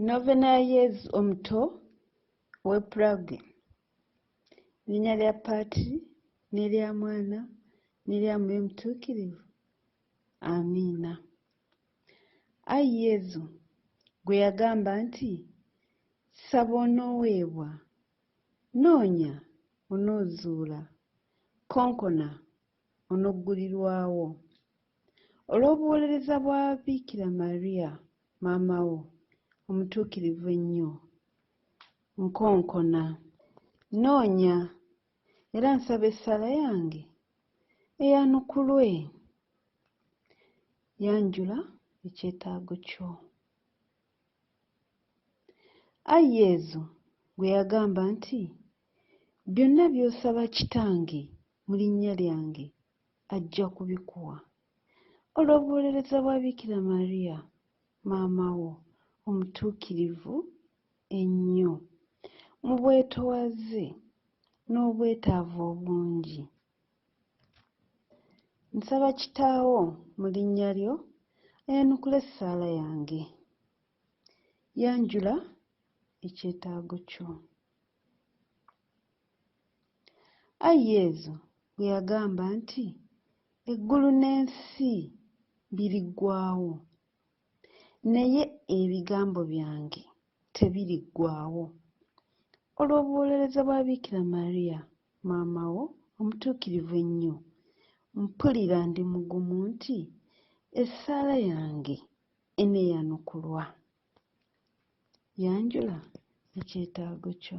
Novena ya Yezu omuto w'e Prague. Linnya lya Patiri n'erya Mwana n'erya Mwoyo Mutuukirivu. Amiina. Ai Yezu, gwe yagamba nti, Saba onooweebwa, noonya onoozuula, konkona onoggulirwawo. Olw'obuwolereza bwa Biikira Maria maama wo omutuukirivu ennyo, nkonkona, nnoonya era nsaba essaala yange eyanukulwe. Yanjula ekyetaago kyo. Ai Yezu, gwe yagamba nti, Byonna by'osaba Kitange mu linnya lyange ajja kubikuwa. Olw'obuwolereza bwa Bikira Maria maama wo omutuukirivu ennyo, mu bwetowaze n'obwetaavu obungi, Nsaba Kitaawo mu linnya lyo ayanukule essaala yange. Yanjula ekyetaago kyo. Ai Yezu bwe yagamba nti, Eggulu n'ensi biriggwaawo, Naye ebigambo byange tebiriggwaawo. Olw'obuwolereza bwa Bikira Maria maama wo omutuukirivu ennyo, mpulira ndi mugumu nti essaala yange eneeyanukulwa. Yanjula ekyetaago kyo.